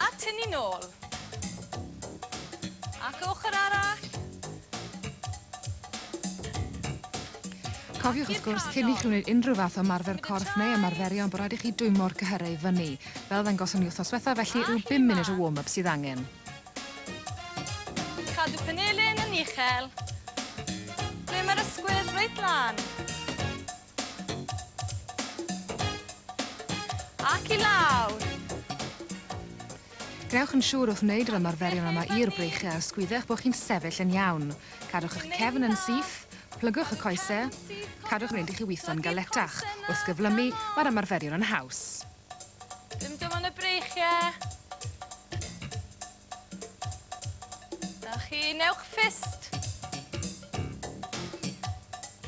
Atyn ni nôl. Ac y ochr arall. Cofiwch wrth gwrs, cyn i chi wneud unrhyw fath o ymarfer corff neu ymarferion bod rhaid i chi dwymo'r cyhyrau i fyny. Fel ddangoson ni wythnos diwethaf felly, rhyw bum munud o warm-up sydd angen. Cadw penilyn yn uchel. Ble mae'r ysgwydd? Reit lan. Ac i lawr! Gwnewch yn siŵr wrth wneud yr ymarferion yma i'r breichiau a ysgwyddech bod chi'n sefyll yn iawn. Cadwch eich cefn yn syth, plygwch y coesau, cadwch yn fynd i chi witho'n galetach. Wrth gyflymu, mae'r ymarferion yn haws. Dim dim ond y breichiau. Da chi, newch ffist.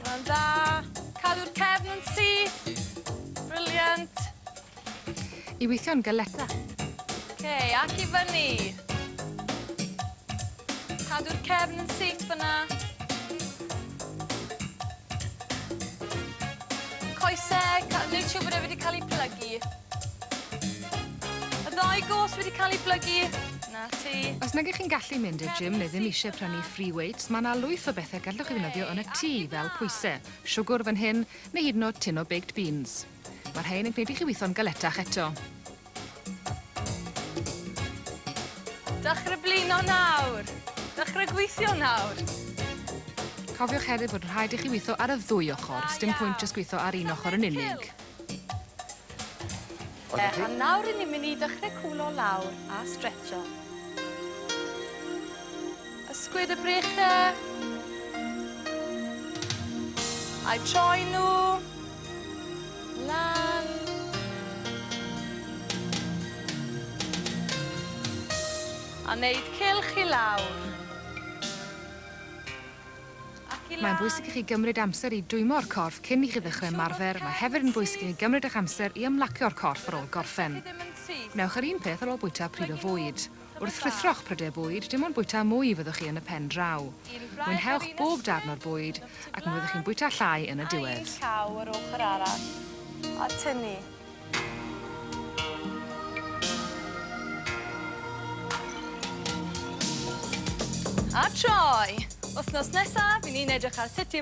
Mae'n dda. Cadw'r cefn yn syth. Briliant. I weithio'n galeta. Oce, okay, ac i fyny. Cadw'r cefn yn syth fyna. Coese, ca- neud siŵr bod e wedi cael ei plygu. Y ddau gos wedi cael ei blygu. Na ti. Os nag ych chi'n gallu mynd i'r gym neu ddim eisiau prynu free weights, mae yna lwyth o bethau gallwch chi ddefnyddio yn y tŷ, fel pwysau, siwgr fan hyn, neu hyd yn oed tin o baked beans. Mae rhain yn gwneud i chi weithio'n galetach eto. Dechrau blino nawr! Dechrau gweithio nawr! Cofiwch hefyd bod rhaid i chi weithio ar y ddwy ochr, sdim pwynt jyst gweithio ar un ochr yn unig. A nawr i ni'n mynd i dechrau cwlo lawr a stretcho. Ysgwyd y breche. A'i troi nhw lan. A wneud cylch i lawr. Ac i lan. Mae'n bwysig i chi gymryd amser i dwymo'r corff cyn i chi ddechrau ymarfer, mae hefyd yn bwysig i chi gymryd eich amser i ymlacio'r corff ar ôl gorffen. Wnewch yr un peth ar ôl bwyta pryd o fwyd. Wrth ruthro'ch prydau bwyd, dim ond bwyta mwy fyddwch chi yn y pen draw. Mwynhewch bob darn o'r bwyd, ac mi fyddwch chi'n bwyta llai yn y diwedd. Cau un llaw yr ochr arall, a tynnu. A troi! Wythnos nesaf, 'yn ni'n edrych ar sut i